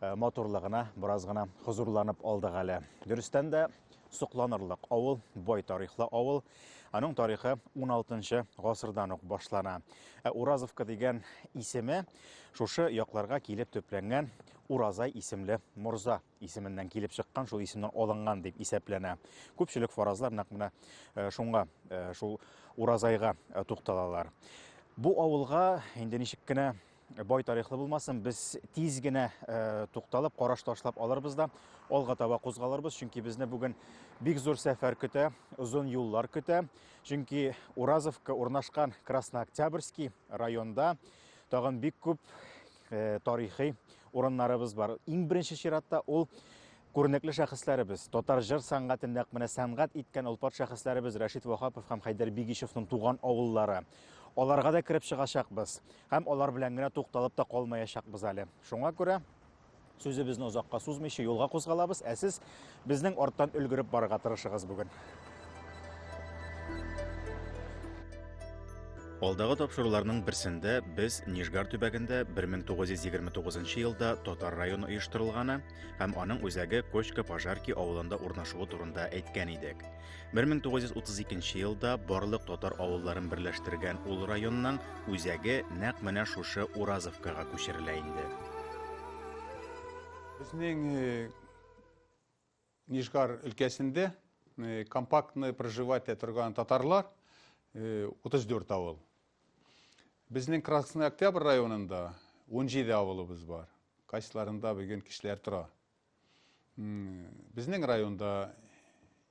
Э, матурлыгына бераз гына хозурланып алдык әле. Дөрестән дә сокланырлык авыл, бай тарихлы авыл. Аның тарихы 16 гасырдан ук башлана. Ә Уразовка дигән исеме шушы якларга килеп төпләнгән Уразай исемле морза исеменнән килеп чыккан, шул исемнән алынган дип исәпләнә. Күпчелек фаразлар нәкъ менә э, шуңа, э, шул Уразайга тукталалар. Бу авылга инде ничек кенә бай тарихлы булмасын, без тиз генә э, тукталып, караш ташлап алырбыз да, алга таба кузгалырбыз, чөнки безне бүген бик зур сәфәр көтә, озын юллар көтә. Чөнки Уразовка урнашкан Краснооктябрьский районда тагын бик күп э, тарихи урыннарыбыз бар. Иң беренче чиратта ул күренекле шәхесләребез, татар җыр сәнгатен нәкъ менә сәнгать иткән олпат шәхесләребез Рәшит Вахапов һәм Хәйдәр Бигишевның туган авыллары. Аларга да кереп чыгачакбыз. Һәм алар белән генә тукталып та калмаячакбыз әле. Шуңа күрә сүзебезне озакка сузмыйча юлга кузгалабыз, ә сез безнең арттан өлгереп барырга тырышыгыз бүген. Алдагы тапшыруларның берсендә без Нижгар төбәгендә 1929 елда татар районы оештырылганы һәм аның үзәге Кочка-Пожарки авылында урнашуы турында әйткән идек. 1932 елда барлык татар авылларын берләштергән ул районның үзәге нәкъ менә шушы Уразовкага күчерелә инде. Безнең э, Нижгар өлкәсендә э, компактны проживать торган татарлар 34 э, авыл. Безнең Красный Октябрь районында 17 авылыбыз бар. Кайсыларында бүген кешеләр тора. Безнең районда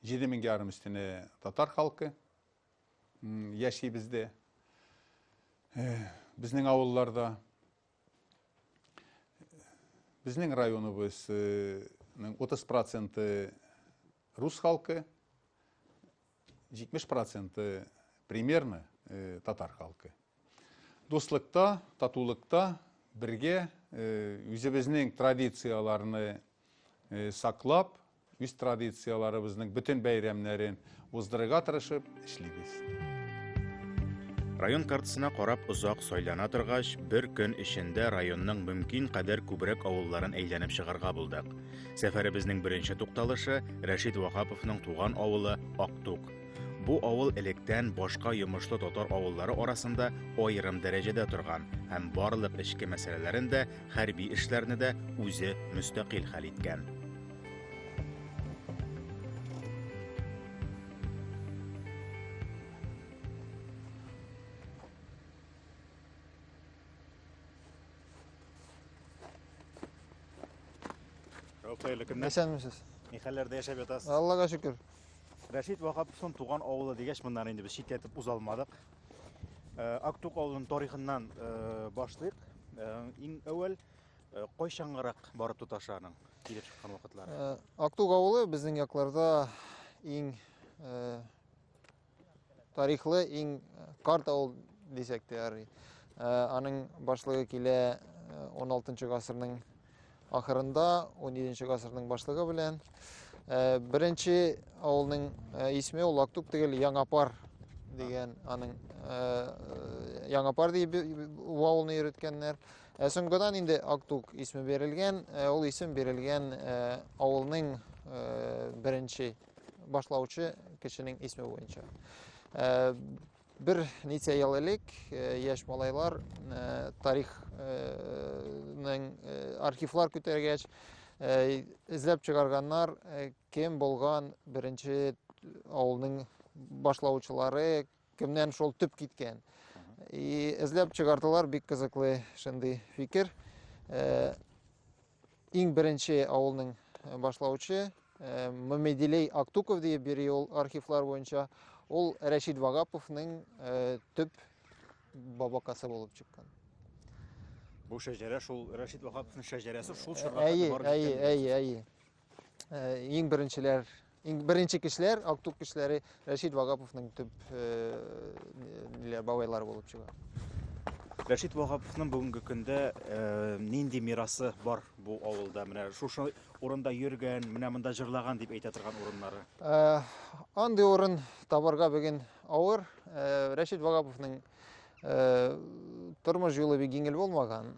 7 мең ярым өстенә татар халкы яши бездә. Безнең авылларда безнең районыбызның 30 проценты рус халкы, 70 проценты примерно татар халкы. Дуслыкта, татулыкта бергә үзебезнең традицияләрне саклап, үз традицияләребезнең бөтен бәйрәмнәрен уздырырга тырышып эшлибез. Район картасына карап озак сайлана торгач, бер көн эчендә районның мөмкин кадәр күбрәк авылларын әйләнеп чыгарга булдык. Сәфәребезнең беренче тукталышы Рәшит Ваһаповның туган авылы Актук. Бу авыл электән башка йомышлы татар авыллары арасында аерым дәрәҗәдә торган һәм барлык эчке мәсьәләләрен дә, хәрби эшләрне дә үзе мөстәкыйль хәл иткән. Рәүф, хәерле көннәр. Исәнмесез. Ни хәлләрдә яшәп ятасыз? Аллага шөкер. Рәшит Вахаповның туган авылы дигәч, моннан инде без читләтеп уза алмадык. Э, Актук авылының тарихыннан э, башлыйк. Э, Иң әүвәл э, кайчангырак барып тоташы аның килеп чыккан вакытлары. Э, Актук авылы безнең якларда иң э, Тарихлы иң карт авыл дисәк тә ярый. Аның башлыгы килә 16 гасырның ахырында, 17 гасырның башлыгы белән. Беренче авылның исме ул Актук түгел, Яңапар дигән аның Яңапар дип авылны йөрткәннәр. Ә соңгыдан инде Актук исме бирелгән, ул исем бирелгән авылның беренче башлаучы кешенең исме буенча. Э, бер ничә ел элек э, яшь малайлар э, тарихның архивлар күтәргәч эзләп чыгарганнар кем булган беренче авылның башлаучылары Кемнән шул төп киткән? И эзләп чыгардылар бик кызыклы шундый фикер. Э, иң беренче авылның э, башлаучы э, Мамедилей Актуков диеп бери ул архивлар буенча. Ул Рәшид Вагаповның төп бабакасы булып чыккан. Бу шәҗәрә шул Рәшид Вагаповның шәҗәрәсе шул чорга. Әйе, әйе, әйе, әйе. Иң беренчеләр иң беренче кешеләр актук кешеләре рәшит вагаповның төп ниләр бабайлары булып чыга рәшит вагаповның бүгенге көндә нинди мирасы бар бу авылда менә шушы урында йөргән менә монда җырлаган дип әйтә торган урыннары андый урын табарга бүген авыр рәшит вагаповның тормыш юлы бик еңел булмаган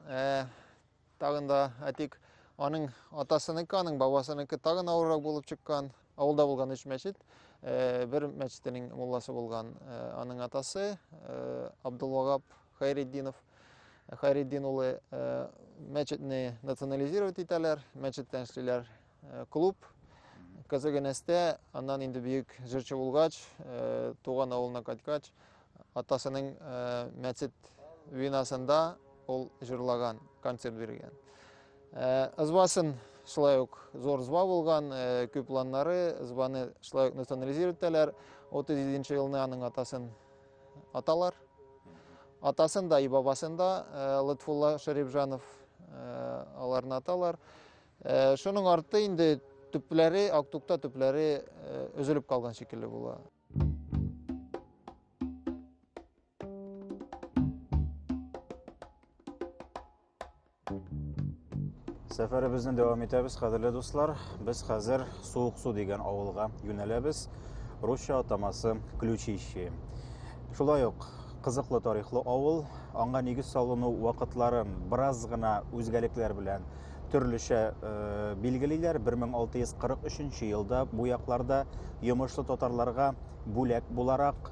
Тагын да әтик аның атасыныкы, аның бабасыныкы тагын авыррак булып чыккан. Авылда булган өч мәчет, э, бер мәчетенең мулласы булган э, аның атасы э, Абдулвагап Хайретдинов. Хайретдин улы мәчетне национализировать итәләр, мәчеттән эшлиләр. э, клуб Казагенәстә, аннан инде бөек җырчы булгач, э, туган авылына кайткач, атасының э, мәчет винасында ул җырлаган, концерт биргән. Э, Ызбасын шулай ук зор зва булган, күп планнары, ызбаны шулай ук национализировать итәләр. 37 елны аның атасын аталар. Атасын да и бабасын да Латфулла Шарипжанов аларны аталар. Э, шуның арты инде төпләре, актукта төпләре э, өзелеп калган шикелле була. Сәфәребезне дәвам итәбез, кадерле дуслар. Без хәзер Суык су дигән авылга юнәләбез. Русча атамасы Ключище. Шулай ук кызыклы тарихлы авыл, аңа нигез салыну вакытлары бераз гына үзгәлекләр белән төрлечә э, билгелиләр. 1643 елда бу якларда йомышлы татарларга бүләк буларак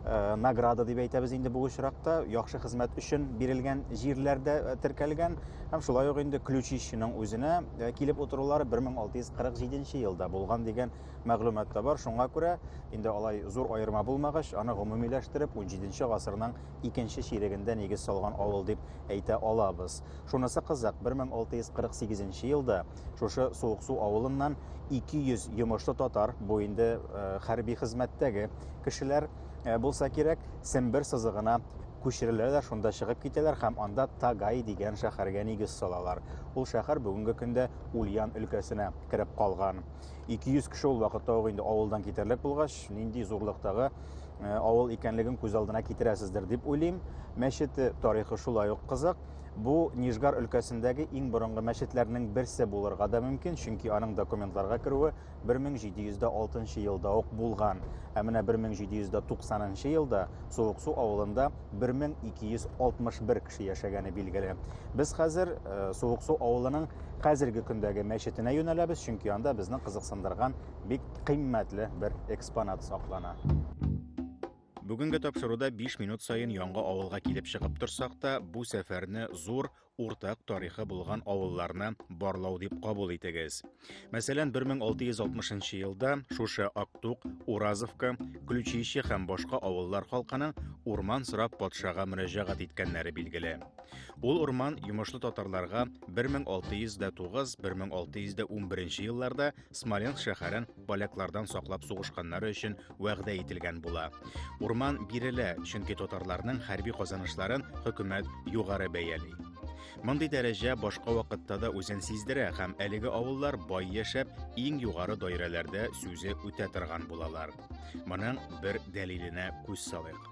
э, награда дип әйтәбез инде бу очракта яхшы хезмәт өчен бирелгән җирләрдә э, теркәлгән һәм шулай ук инде ключищиның үзенә э, килеп утырулары 1647 елда булган дигән мәгълүмат та бар шуңа күрә инде алай зур аерма булмагач аны гомумиләштереп 17 гасырның икенче чирегендә нигез салган авыл дип әйтә алабыз Шунысы кызык, 1648 нче елда шушы Суыксу авылыннан 200 йомышлы татар, бу инде э, хәрби хезмәттәге кешеләр э, булса кирәк, Сембер сызыгына күчереләләр, шунда чыгып китәләр һәм анда Тагай дигән шәһәргә нигез салалар. Ул шәһәр бүгенге көндә Ульян өлкәсенә кереп калган. 200 кеше ул вакытта ук инде авылдан китерлек булгач, нинди зурлыктагы э, авыл икәнлеген күз алдына китерәсездер дип уйлыйм. Мәчете тарихы шулай ук кызык. Бу Нижгар өлкәсендәге иң борынгы мәчетләрнең берсе булырга да мөмкин, чөнки аның документларга керүе 1706 елда ук булган. Ә менә 1790 елда Суыксу авылында 1261 кеше яшәгәне билгеле. Без хәзер э, Суыксу авылының хәзерге көндәге мәчетенә юнәләбез, чөнки анда безне кызыксындырган бик кыйммәтле бер экспонат саклана. Бүгенге тапшыруда 5 минут саен яңа авылга килеп чыгып торсак та, бу сәфәрне зур, уртак тарихы булган авылларны барлау дип кабул итегез. Мәсәлән, 1660 елда шушы Актук, Уразовка, Ключище һәм башка авыллар халкының урман сорап патшага мөрәҗәгать иткәннәре билгеле. Ул урман йомышлы татарларга 1609-1611 елларда Смоленск шәһәрен поляклардан саклап сугышканнары өчен вәгъдә ителгән була. Урман бирелә, чөнки татарларның хәрби казанышларын хөкүмәт югары бәяли. Мондый дәрәҗә башка вакытта да үзен сиздерә һәм әлеге авыллар бай яшәп, иң югары даирәләрдә сүзе үтә торган булалар. Моның бер дәлиленә күз салыйк.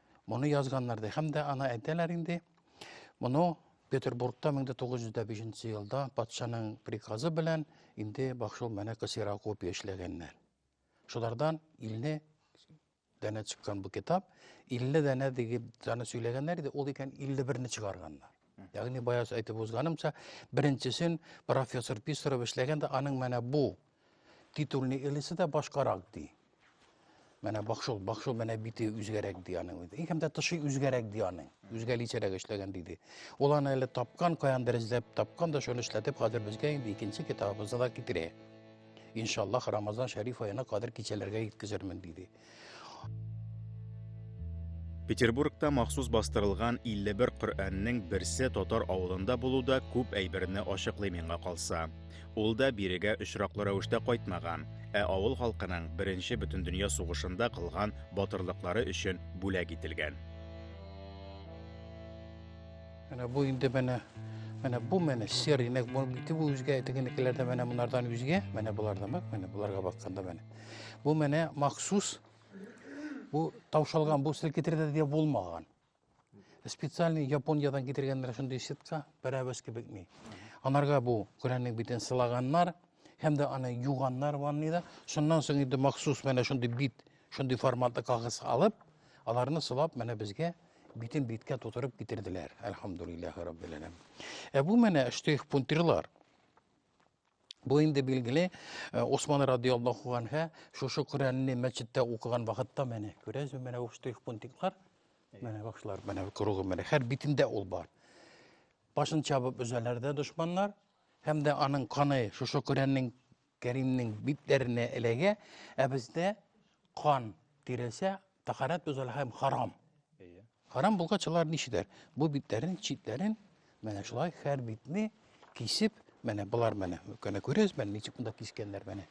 Моны язганнар ди. Һәм дә аны әйтәләр инде. Моны Петербургта 1905 елда патшаның приказы белән инде бахшул менә ксерокопия эшләгәннәр. Шулардан илне дәнә чыккан бу китап, 50 дәнә дигеп даны сөйләгәннәр иде, ул икән 51-не чыгарганнар. Ягъни баяз әйтеп узганымча, беренчесен профессор Писарев эшләгәндә, аның менә бу Титульный элесе дә башкарак ди. Менә бакшыл, бакшыл менә бите үзгәрәк ди аның үзе. И һәм дә тышы үзгәрәк ди аның. Үзгәличәрәк эшләгән диде. Ул аны әле тапкан, каяндыр эзләп тапкан да шуны эшләтеп хәзер безгә инде икенче китабыбызны да китерә. Иншаллах Рамазан шәриф аена кадәр кичәләргә җиткезермен диде. Петербургта махсус бастырылган 51 Коръәннең берсе татар авылында булу да күп әйберне ачыклый миңа калса. Ул да бирегә очраклы рәвештә кайтмаган, ә авыл халкының беренче бөтендөнья сугышында кылган батырлыклары өчен бүләк ителгән. Менә бу инде менә менә бу менә серый, нәкъ бу бите бу үзгә, тегенекеләр дә менә монардан үзгә, менә болар да менә боларга бакканда менә. Бу менә махсус бу таушалган, бу селкетердә дә булмаган. Специальный Япониядән китергәннәр шундый сетка, берәбез кебек ни. Анарга бу Коръәннең битен сылаганнар һәм дә аны юганнар ванныйда. Шуннан соң инде махсус менә шундый бит, шундый форматлы кагыз алып, аларны сылап менә безгә битен биткә тутырып китерделәр. Әлхамдулиллаһи раббил Ә бу менә штрих-пунктирлар. Бу инде билгеле э, Усман радиаллаху анһә шушы Коръәнне мәчеттә укыган вакытта менә күрәсез менә ул штрих-пунктиклар менә башлар менә кругы менә һәр битендә ул бар. Башын чабып өзәләр дә дошманнар һәм дә аның каны шушы Коръәннең Кәримнең битләренә эләгә, ә бездә кан тирәсә Тахарат бозыла һәм харам. Әйе. Харам булгач алар ничедер? Бу битләрен, читләрен менә шулай һәр битне кисеп, менә болар менә, көне күрәсез, менә ничек монда кискәннәр менә.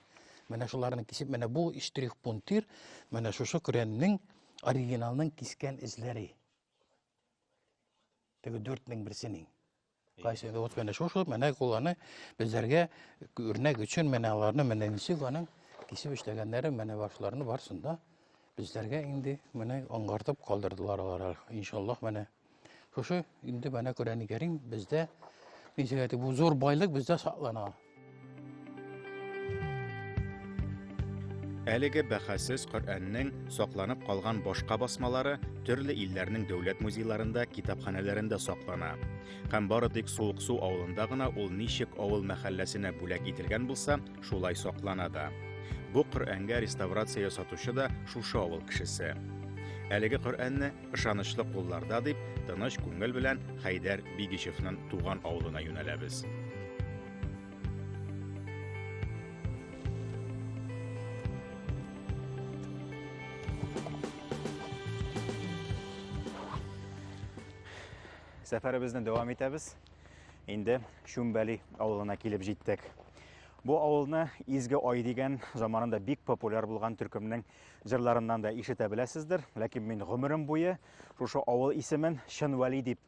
Менә шуларны кисеп, менә бу штрих пунктир, менә шушы Коръәннең оригиналның кискән эзләре. Теге 4000 берсенең. Кайсы инде вот менә шушы менә куланы безләргә үрнәк өчен менә аларны менә ничек аның кисеп эшләгәннәре менә башларны барсын да безләргә инде менә аңгартып калдырдылар алар иншаллах менә шушы инде менә Коръәни Кәрим бездә ничек әйтеп бу зур байлык бездә саклана. Әлеге бәхәссез Коръәннең сакланып калган башка басмалары төрле илләрнең дәүләт музейларында, китапханәләрендә саклана. Һәм бары тик Суыксу авылында гына ул ничек авыл мәхәлләсенә бүләк ителгән булса, шулай саклана да. Бу Коръәнгә реставрация ясатучы да шушы авыл кешесе. Әлеге Коръәнне ышанычлы кулларда дип тыныч күңел белән Хәйдәр Бигичевнең туган авылына юнәләбез. Сәфәребезне дәвам итәбез. Инде Шүмбәли авылына килеп җиттек. Бу авылны Изге Ай дигән заманында бик популяр булган төркемнең Җырларыннан да ишетә беләсездер, ләкин мин гомерем буе шушы авыл исемен Чын Вәли дип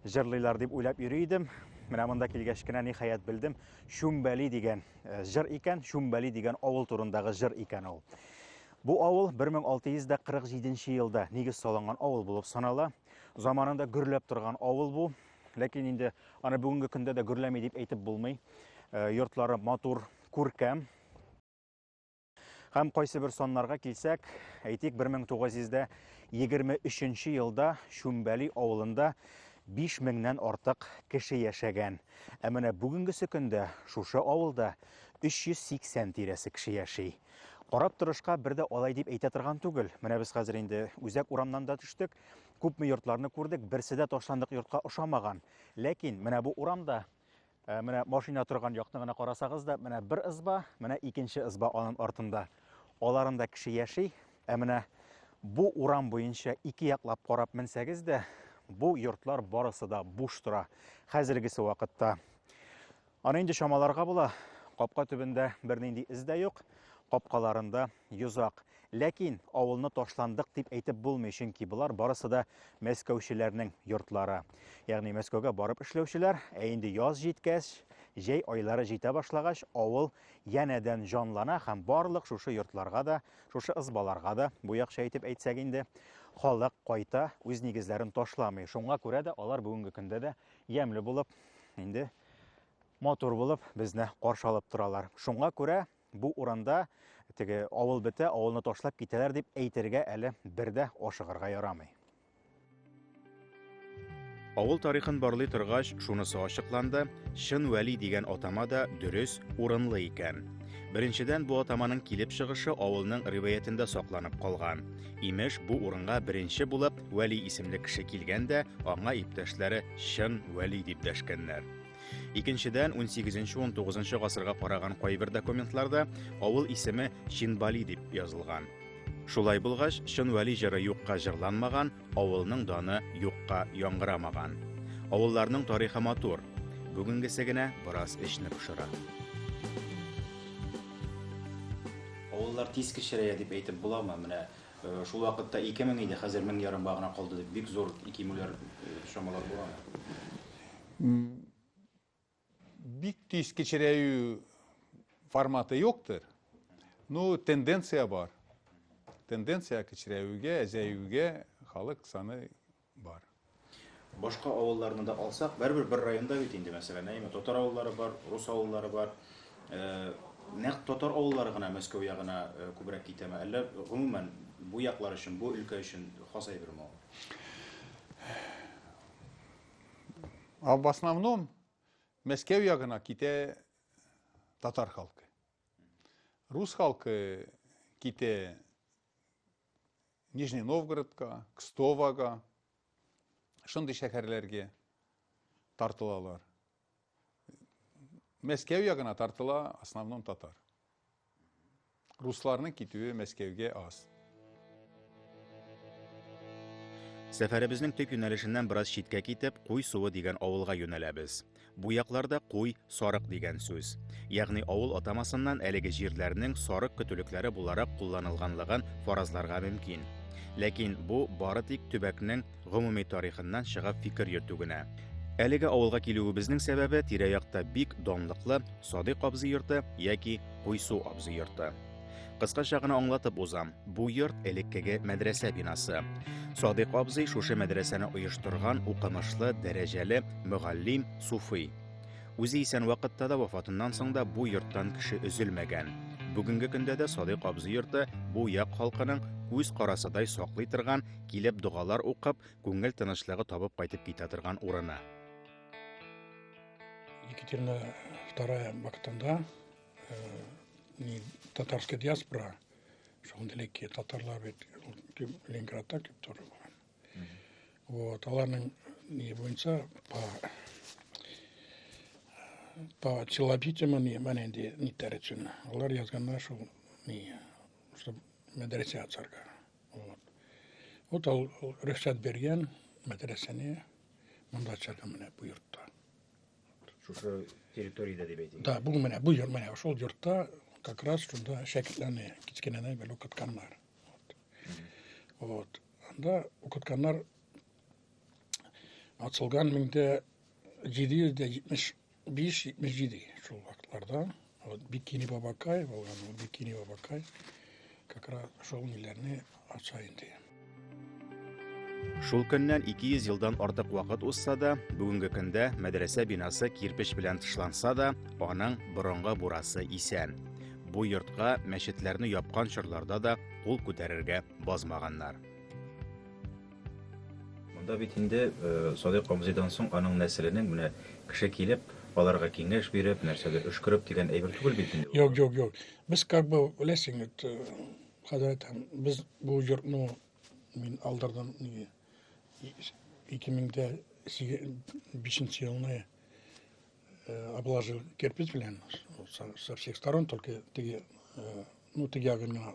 җырлыйлар дип уйлап йөри идем. Менә монда килгәч кенә ниһаять белдем, Чүмбәли дигән э, җыр икән, Чүмбәли дигән авыл турындагы җыр икән ул. Бу авыл 1647 елда нигез салынган авыл булып санала. Заманында гөрләп торган авыл бу. Ләкин инде аны бүгенге көндә дә гөрләми дип әйтеп булмый. Э, йортлары матур, күркәм, Һәм кайсы бер саннарга килсәк, әйтик 1923 елда Шүмбәли авылында 5 меңнән артык кеше яшәгән. Ә менә бүгенгесе көндә шушы авылда 380 тирәсе кеше яши. Карап торышка бер дә алай дип әйтә торган түгел. Менә без хәзер инде үзәк урамнан да төштек, күпме йортларны күрдек, берсе дә ташландык йортка ошамаган. Ләкин менә бу урамда Ә менә машина торган якны гына карасагыз да, менә бер ызба, менә икенче ызба аның артында. Аларында кеше яши, ә менә бу урам буенча ике яклап карап менсәгез дә, бу йортлар барысы да буш тора. Хәзергесе вакытта. Аны инде чамаларга була. Капка төбендә бернинди эз дә юк, капкаларында Йозак. Ләкин авылны ташландык дип әйтеп булмый, чөнки болар барысы да мәскәүчеләрнең йортлары. Ягъни Мәскәүгә барып эшләүчеләр, ә инде яз җиткәч, җәй айлары җитә башлагач, авыл янәдән җанлана һәм барлык шушы йортларга да, шушы ызбаларга да, бу якча итеп әйтсәк инде, халык кайта, үз нигезләрен ташламый. Шуңа күрә дә алар бүгенге көндә дә ямьле булып, инде матур булып безне каршы алып торалар. Шуңа күрә Бу урында теге авыл бетә, авылны ташлап китәләр дип әйтергә әле бер дә ашыгырга ярамый. Авыл тарихын барлый торгач, шунысы ачыкланды, Чын Вәли дигән атама да дөрес, урынлы икән. Беренчедән, бу атаманың килеп чыгышы авылның риваятендә сакланып калган. Имеш, бу урынга беренче булып Вәли исемле кеше килгән дә, аңа иптәшләре Чын Вәли дип дәшкәннәр. Икенчедән, 18-19 гасырга караган кайбер документларда авыл исеме Чинбали дип язылган. Шулай булгач, чын вәли җыры юкка җырланмаган, авылның даны юкка яңгырамаган. Авылларның тарихы матур. Бүгенгесе генә бераз эчне пошыра. Авыллар тиз кечерәя дип әйтеп буламы? Менә э, шул вакытта 2000 иде, хәзер 1000 ярымга гына калды дип бик зур кимүләр э, чамалар буламы? Бик тиз кечерәю форматы юктыр. Ну, тенденция бар. Тенденция кечерәюгә, әзәюгә халык саны бар. Башка авылларны да алсак, бәрбер бер районда бит инде, мәсәлән, әйме, татар авыллары бар, рус авыллары бар. Э, нәкъ татар авыллары гына Мәскәү ягына э, күбрәк китәме? Әллә гомумән бу яклар өчен, бу өлкә өчен хас әйберме ул? А в основном Мәскәү ягына китә татар халкы. Рус халкы китә Нижний Новгородка, Кстовага, шундый шәһәрләргә тартылалар. Мәскәү ягына тартыла основном татар. Русларның китүе Мәскәүгә аз. Сәфәребезнең төп юнәлешеннән бераз читкә китеп, Куй суы дигән авылга юнәләбез. Бу якларда куй, сарык дигән сүз. Ягъни авыл атамасыннан әлеге җирләрнең сарык көтүлекләре буларак кулланылганлыгын фаразларга мөмкин. Ләкин бу бары тик төбәкнең Гомуми тарихыннан чыгып фикер йөртү генә. Әлеге авылга килүебезнең сәбәбе тирә-якта бик данлыклы Садыйк абзый йорты яки Куйсу абзый йорты. Кыскача гына аңлатып узам, бу йорт элеккеге мәдрәсә бинасы. Садыйк абзый шушы мәдрәсәне оештырган укымышлы, дәрәҗәле мөгаллим Суфый. Үзе исән вакытта да вафатыннан соң да бу йорттан кеше өзелмәгән. Бүгенге көндә дә Садыйк абзый йорты бу як халкының үз карасыдай саклый торган Килеп догалар укып, күңел тынычлыгы табып кайтып китә торган урыны. Екатерина II вакытында э, татарская диаспора, шундый ки татарлар бит Ленинградта күп торып алган. Вот, аларның не буенча по по челобитям они мене не теречен. Алар язганнар, что не, что медресе ацарга. Вот. Вот ал рөхсәт биргән мәдрәсәне монда чыга менә бу йортта. Шушы территориядә дип әйтик. Да, бу менә бу йорт менә шул йортта как раз шунда шәкертләрне кечкенәдән бер укытканнар. Вот. Вот. Анда укытканнар ацылган 1770 Биш-җитмеш җиде шул вакытларда вот Бикини Бабакай булган, ул Бикини Бабакай как раз шул милләрне ача инде. Шул көннән 200 елдан артык вакыт узса да, бүгенге көндә мәдрәсә бинасы кирпеч белән тышланса да, аның борынгы бурасы исән. Бу йортка мәчетләрне япкан чорларда да кул күтәрергә базмаганнар. Монда бит инде Садыйк абзыйдан соң аның нәселенең менә кеше килеп, аларга киңәш биреп, нәрсәдер өшкереп дигән әйбер түгел бит инде. Юк, юк, юк. Без как бы беләсең бит, э, хәзрәт, без бу йортны мин алдырдым неге 2005 елны э, обложил кирпич белән со всех сторон только теге э, ну теге гына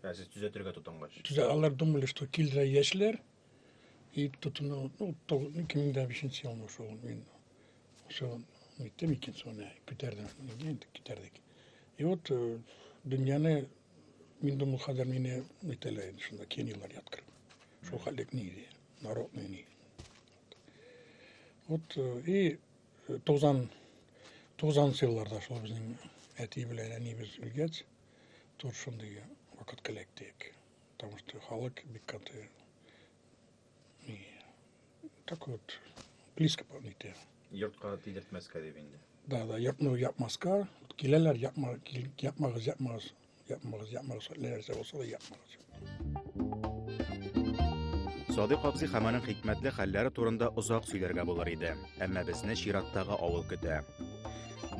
Ә сез төзәтергә тотынгач? Төзә, алар думали, что килдерә яшьләр, и тотыну, ну, то, ну, кемнең дә бишенче елмы шул, мин, шул, иттем икән соны, күтәрдем, инде китәрдек. И вот, э, дөньяны, мин думал, хәзер мине, әйтәләр инде шунда, кенилар яткыр. Шул хәлек ни, народный ни. Вот, э, и Тузан тузан сыйларда шул безнең әти белән әнибез үлгәч, тут шундый вакыт киләктек. Потому что халык бик каты и так вот близко помните. Йортка тидертмәскә дип инде. Да, да, япмау япмаска, киләләр, япма, япмагыз, япмагыз. Yapmalıyız, yapmalıyız. Nelerse olsa da yapmalıyız. Садык абзый һәм аның хикмәтле хәлләре турында озак сөйләргә булыр иде, әмма безне чираттагы авыл көтә.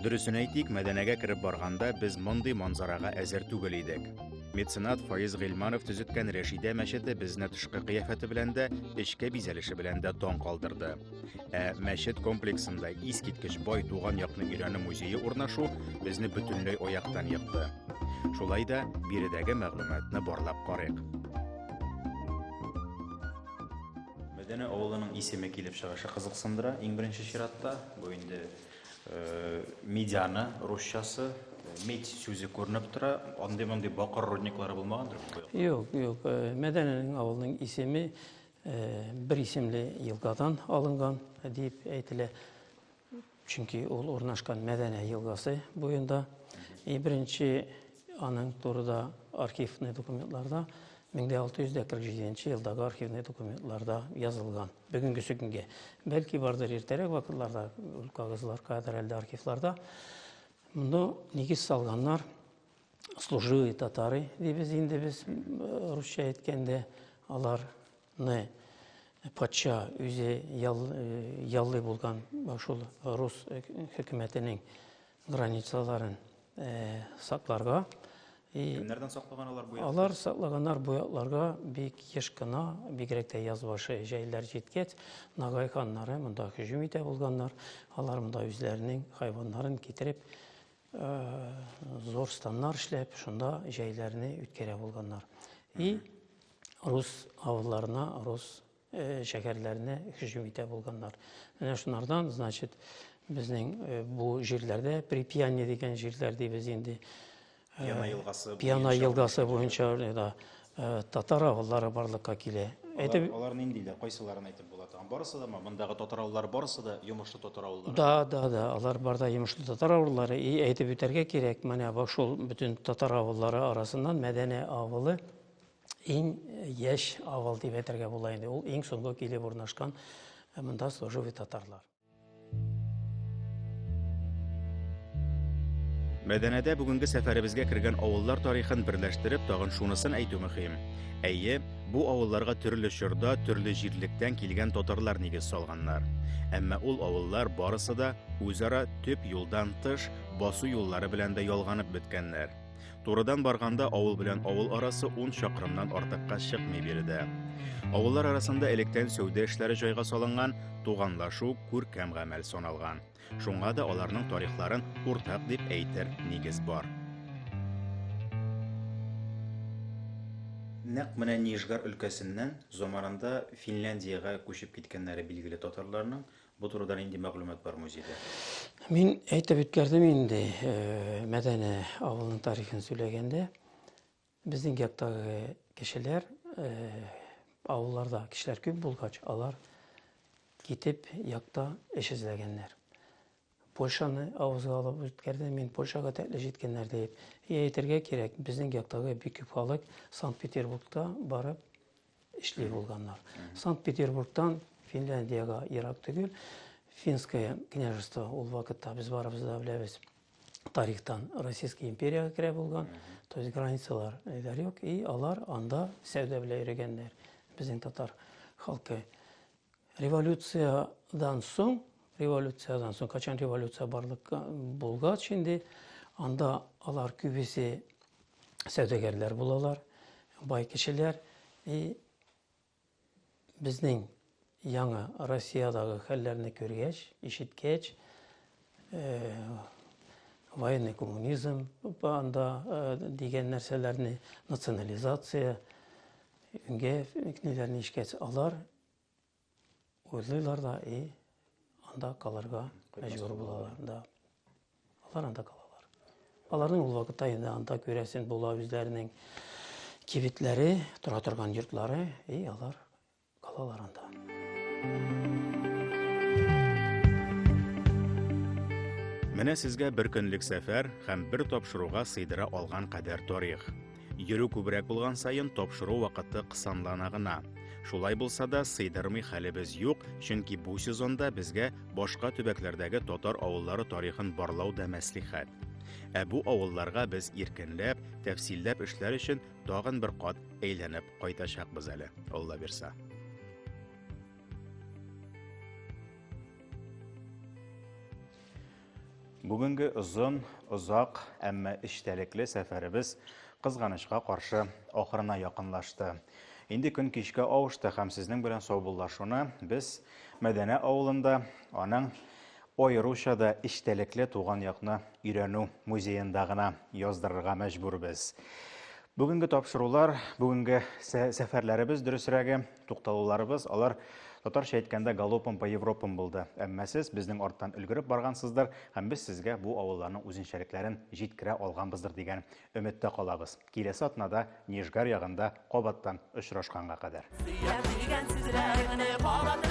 Дөресен әйтик, мәдәнәгә кереп барганда без мондый манзарага әзер түгел идек. Меценат Фаиз Гыйлманов төзеткән Рәшидә мәчете безне тышкы кыяфәте белән дә, эчке бизәлеше белән дә таң калдырды. Ә мәчет комплексында искиткеч бай туган якны өйрәнү музее урнашу безне бөтенләй аяктан йыкты. Шулай да биредәге мәгълүматны барлап карыйк. Мәдәнә авылының исеме килеп чыгышы кызыксындыра. Иң беренче чиратта бу инде э, медианы русчасы медь сүзе күренеп тора. Андый мондый бакыр рудниклары булмагандыр бу? Юк, юк. Э, Мәдәнәнең авылының исеме бер исемле елгадан алынган дип әйтелә. Чөнки ул урнашкан Мәдәнә елгасы буенда. И беренче аның турыда архивный документларда 1647 елдагы архивный документларда язылган. Бүгенгесе көнгә. Бәлки бардыр иртәрәк вакытларда ул кагызлар кадәр әлдә архивларда. Монда нигез салганнар служилые татары дибез инде без русча әйткәндә аларны патша үзе яллый булган шул рус хөкүмәтенең границаларын сакларга кемнәрдән саклаган алар бу алар саклаганнар бу якларга бик еш кына бигрәк тә яз башы җәйләр җиткәч нагай ханнары монда һөҗүм итә булганнар алар монда үзләренең хайваннарын китереп зур станнар эшләп, шунда җәйләрне үткәрә булганнар. И рус авылларына, рус шәһәрләренә һөҗүм итә булганнар. Менә шунардан, значит, безнең бу җирләрдә Припьяне дигән җирләр дибез инде. Пьяна елгасы. Пьяна елгасы буенча да Э, татар авыллары барлыкка килә. Әйтеп... Алар, алар ниндиләр, кайсыларын әйтеп була торган? Барысы да ма? Мондагы татар авыллары барысы да йомышлы татар авыллары? Да, да, да, алар бар да йомышлы татар авыллары. И әйтеп үтәргә кирәк, менә бу шул бөтен татар авыллары арасыннан Мәдәнә авылы иң яшь авыл дип әйтергә була инде. Ул иң соңгы килеп урнашкан э, монда служивый татарлар. Мәдәнәдә бүгенге сәфәребезгә кергән авыллар тарихын берләштереп тагын шунысын әйтү мөһим. Әйе, бу авылларга төрле чорда, төрле җирлектән килгән татарлар нигез салганнар. Әмма ул авыллар барысы да үзара төп юлдан тыш басу юллары белән дә ялганып беткәннәр. Турыдан барганда авыл белән авыл арасы 10 чакрымнан артыкка чыкмый биредә. Авыллар арасында электән сәүдә эшләре җайга салынган, туганлашу күркәм гамәл саналган. Шуңа да аларның тарихларын уртак дип әйтер нигез бар. Нәкъ менә Нижгар өлкәсеннән заманында Финляндиягә күчеп киткәннәре билгеле татарларның Бу турыда нинди мәгълүмат бар музейда? Мин әйтеп үткәрдем инде, э, Мәдәне авылының тарихын сөйләгәндә, безнең яктагы кешеләр, э, авылларда кешеләр күп булгач, алар китеп якта эш эзләгәннәр. Польшаны авызга алып үткәрдем, мин Польшага тәкле җиткәннәр дип. И әйтергә кирәк, безнең яктагы бик күп халык Санкт-Петербургта барып эшли булганнар. Санкт-Петербургтан Финляндиягә ерак түгел. Финское княжество ул вакытта без барыбыз да беләбез. Тарихтан Российская империягә керә булган. То есть границалар әйдәр юк. И алар анда сәүдә белән йөргәннәр. Безнең татар халкы. Революциядән соң, революциядән соң, качан революция барлыкка булгач инде, анда алар күбесе сәүдәгәрләр булалар, бай кешеләр. И безнең яңа Россиядагы хәлләрне күргәч, ишеткәч, э, военный коммунизм анда э, дигән нәрсәләрне, национализация, Өйгә ниләрне ишкәтс алар, уйлыйлар да, и, анда калырга мәҗбүр булалар. Да. Алар анда калалар. Аларның ул вакытта инде анда күрәсен була үзләренең кибетләре, тора торган йортлары, и, алар калалар анда. Менә сезгә бер көнлек сәфәр һәм бер тапшыруга сыйдыра алган кадәр тарих. Йөрү күбрәк булган саен тапшыру вакыты кысанлана гына. Шулай булса да, сыйдырмый хәлебез юк, чөнки бу сезонда безгә башка төбәкләрдәге татар авыллары тарихын барлау да мәслихәт. Ә бу авылларга без иркенләп, тәфсилләп эшләр өчен тагын бер кат әйләнеп кайтачакбыз әле, Алла бирса. Бүгенге озын, озак, әмма эчтәлекле сәфәребез кызганычка каршы ахырына якынлашты. Инде көн кичкә авышты һәм сезнең белән саубуллашуны без Мәдәнә авылында, аның аеруча да эчтәлекле туган якны өйрәнү музеенда гына яздырырга мәҗбүрбез. Бүгенге тапшырулар, бүгенге сәфәрләребез дөресрәге, Тукталуларыбыз алар татарча әйткәндә галопом по Европам булды. Әмма сез безнең арттан өлгереп баргансыздыр һәм без сезгә бу авылларның үзенчәлекләрен җиткерә алганбыздыр дигән өметтә калабыз. Киләсе атнада Нижгар ягында кабаттан очрашканга кадәр. Сөям дигән сүзләреңне кабат